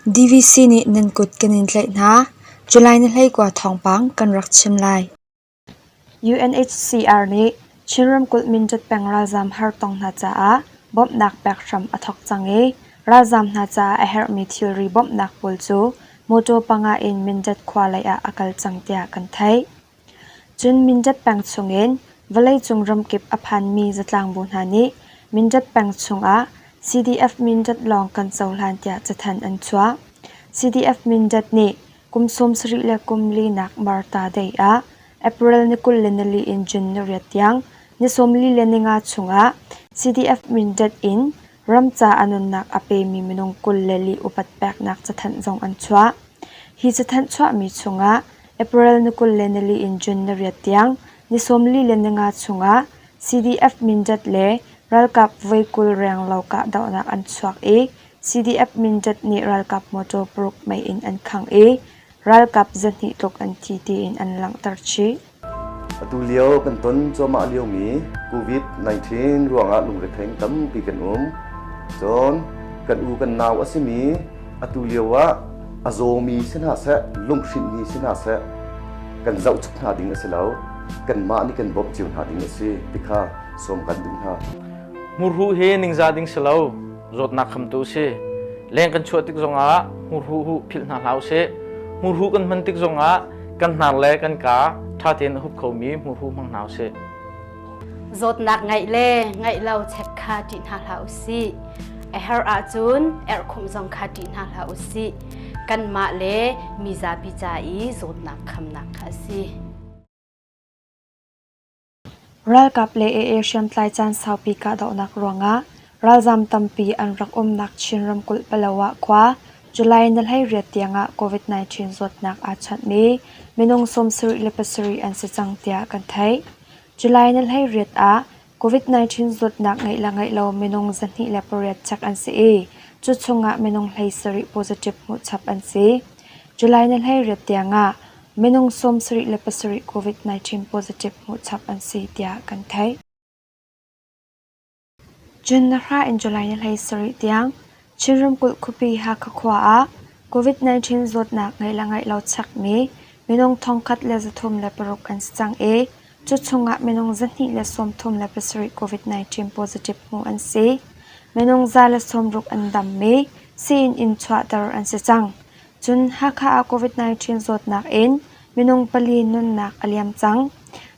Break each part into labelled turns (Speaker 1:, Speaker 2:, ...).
Speaker 1: DVC nih nan kut kan in tlaih hna, July ni hleikua thawngpang kan rak chim lai. Chin ramkulh Mindat peng ralzaam hartong hna caah bawmhnak pek hram a thawk cang i ralzaam hna caah a herhmi thilri bawmhnak pawl cu mawṭaw panga in Mindat khua lei ah a kal cang tiah kan theih. Cun Mindat peng chungin vawleicung ramkip a phanmi zatlangbu hna nih Mindat peng chungah CDF Mindat lawng kan cohlan tiah cathanh an chuah. CDF Mindat nih Kum sawmsarih le kum linak Martha Day ah April ni kul le nali in June ni riat tiang ni sawmli le ninga chungah CDF Mindat in ram ca a nunnak a pemi minung kul le li upat peknak cathanh zong an chuah. Hi cathanh chuahmi chungah April ni kul le nali in June ni riat tiang ni sawmli le ninga chungah CDF Mindat le ralkap voi kul renglo kahdohnak an chuak i CDF Mindat nih ralkap motor paruk mei in an khangh i ralkap zahnih tluk an thi tiin an langhter chih. Atulio
Speaker 2: kan ton cuahmah liomi COVID-19 ruangah lungretheng tampi kan um. Cun kan u kan nau a simi atu lio ah a zawmi si hna seh, lunghrinhmi si hna seh, kan zoh chap hna ding a si lo. Kanmah nih kan bawmh cio hna ding a si ti kha sawm kan duh hna. Murhu hi
Speaker 3: ningzah ding si lo. zawtnak khamtu si leng kan chuah tik zongah hmurhu hu philh hna hlah usih hmurhu kan hman tik zongah kan hnar le kan ka ṭha tein a hup khomi hmurhu hmang hna usih
Speaker 4: zawtnak ngeih le ngeih lo check kha ṭih hna hlah usih a her ahcun erhkhumh zong kha ṭih hna hlah usih kanmah le mizapi ca i zawtnak khamnak kha a si
Speaker 1: Ralkap le AA hriamtlai caan saupi kahdohnak ruangah ralzam tampi an rak umnak Chin ramkulh Palo ah khua July ni hleiriat tiangah COVID-19 zawtnak aa chanhmi minung sawmsarih le pasarih an si cang tiah kan theih. July ni hleiriat ah COVID-19 zawtnak ngeih le ngeih lo minung zahnih le pariat chek an si i cu chungah minung hleisarih positive hmuhchap an si. July ni hleiriat tiangah Minung sawmsarih le pasarih COVID-19 positive hmuhchap an si tiah kan theih. June na hra in July ni hlei sarih tiang Chin ramkulh khuapi Hakha khua ah COVID-19 zawtnak ngeih le ngeih lo chekmi minung thongkhat le zathum le paruk an si cang i cu chungah minung zahnih le sawmthum le pasarih COVID-19 positive hmuh an si. Minung za le sawmruk an dammi sii-inn in chuahter an si cang. Cun Hakha ah COVID-19 zawtnak in minung pali nunnak a liam cang.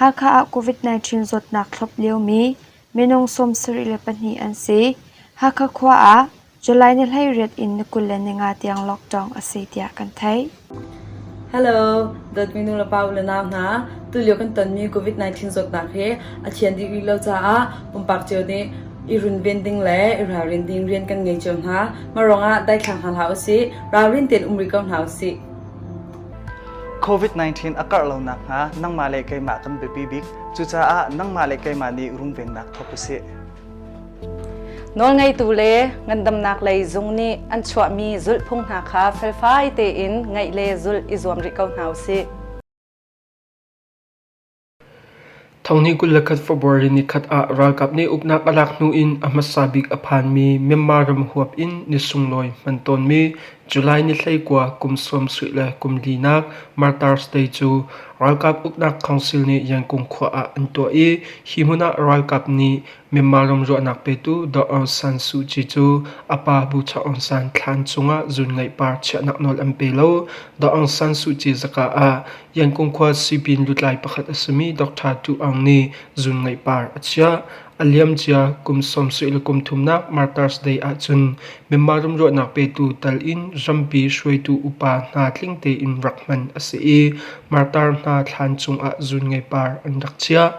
Speaker 1: Hakha ah COVID-19 zawtnak thlop liomi minung sawmsarih le pahnih an si. Hakha khua ah July ni hleiriat in ni kul le ni nga tiang lockdown a si tiah kan theih. Hello,
Speaker 5: dawtmi nu le pa u le nau hna. Tulio kan tonmi COVID-19 zawtnak hi a thian dih rih lo caah pumpak cio nih I runven ding le i ralrin ding rian kan ngei cio hna. Mah ruangah daithlang hna hlah usih, ralrin tein um rih ko hna usih. COVID-19
Speaker 6: a karh lonak hnga nangmah le keimah kan biapi bik. Cucaah nangmah le keimah nih runvennak thawk usih.
Speaker 7: Nawlngeitu le ngandamnak lei zung nih an chuahmi zulhphung hna kha felfai tein ngaih le zulh i zuam rih ko hna usih.
Speaker 8: Thonghnih kul le khat February nikhat ah ralkap nih uknak a lak hnu in a hmasa bik a phanmi Myanmar ram huap in ni sunglawi hman tawnmi July ni hleikua kum sawm suih le kum linak Martar Stay cu ralkap uknak council nih Yangon khua ah an tuah i hi hmun ah ralkap nih Myanmar ram ruahnak petu Daw Aung San Suu Kyi cu a pa Pu Chaw Aung San thlan chungah zuunngaih par chiahnak nawl an pe lo. Daw Aung San Suu Kyi zaka ah Yangon khua sipin lutlai pakhat a simi Dr. Tu Aung nih zuunngaih par a chiah. A liam cia kum sawmsarih le kum thumnak Markers Day ahcun Myanmar ram ruahnak petu tal in rampi hruaitu upa hna tling tein rak hman a si i martar hna thlan cungah zuunngaih par an rak chiah.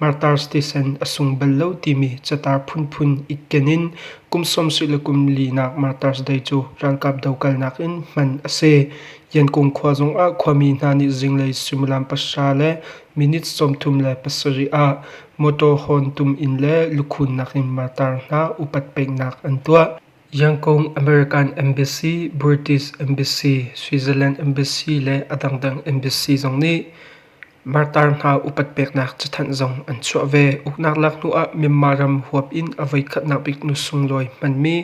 Speaker 8: Martars tisen a sung bal lo timi catar phunphun itken in kum sawmsarih le kum linak Martars Day cu ralkap dokalnak in hman a si. Yankung khua zongah khuami hna nih zinglei suimilam pahra le minutes sawmthum le pasarih ah mawṭaw hawntum in le lukhunnak in martar hna upat peknak an tuah. Yangon American Embassy, British Embassy, Switzerland Embassy le a dangdang embassy zong nih Martar hna upat peknak cathanh zong an chuah ve. Uknak lak hnuah Myanmar ram huap in a voikhatnak bik nu sunglawi hmanmi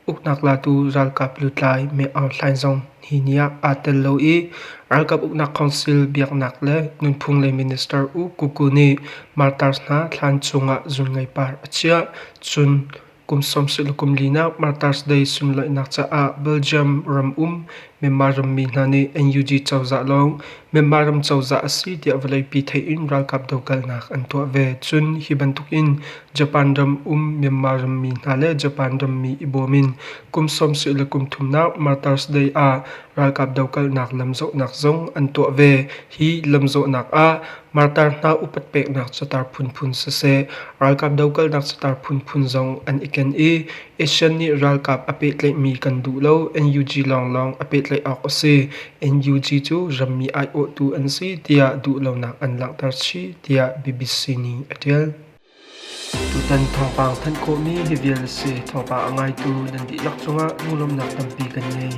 Speaker 8: uknak latu ralkap lutlai Me Aung Hlaing zong hi ni ah aa tel lo i ralkap uknak council biaknak le nunphung lei minister U Ku Kuu nih Martars hna thlan cungah zun ngeipar a chiah. Cun Kum sawmsarih le kum linak Martyr's Day sunlaihnak caah Belgium ram um Myanmar rammi hna nih NUG cozah lawng Myanmar ram cozah a si tiah vawleipi theih in ralkap dokalnak an tuah ve. Cun hi bantuk in Japan ram um Myanmar rammi hna le Japan rammi i bawm in kum sawmsarih le kum thumnak Martyr's Day ah ralkap dokalnak lamzawhnak zong an tuah ve. Hi lamzawhnak ah Martar hna upat peknak catar phunphun siseh, ralkap dokalnak catar phunphun zong an i ken i ASEAN nih ralkap a pehtlaihmi kan duh lo NUG lawnglawng a pehtlaih awk a si. NUG cu rammi aiawhtu an si tiah duhlonak an langhter chih tiah BBC nih a ṭial. Tutan thawngpang thanh khawhmi hi vial a si. Thawngpang a ngaitu nan dihlak cungah ngurlawmnak tampi kan ngei.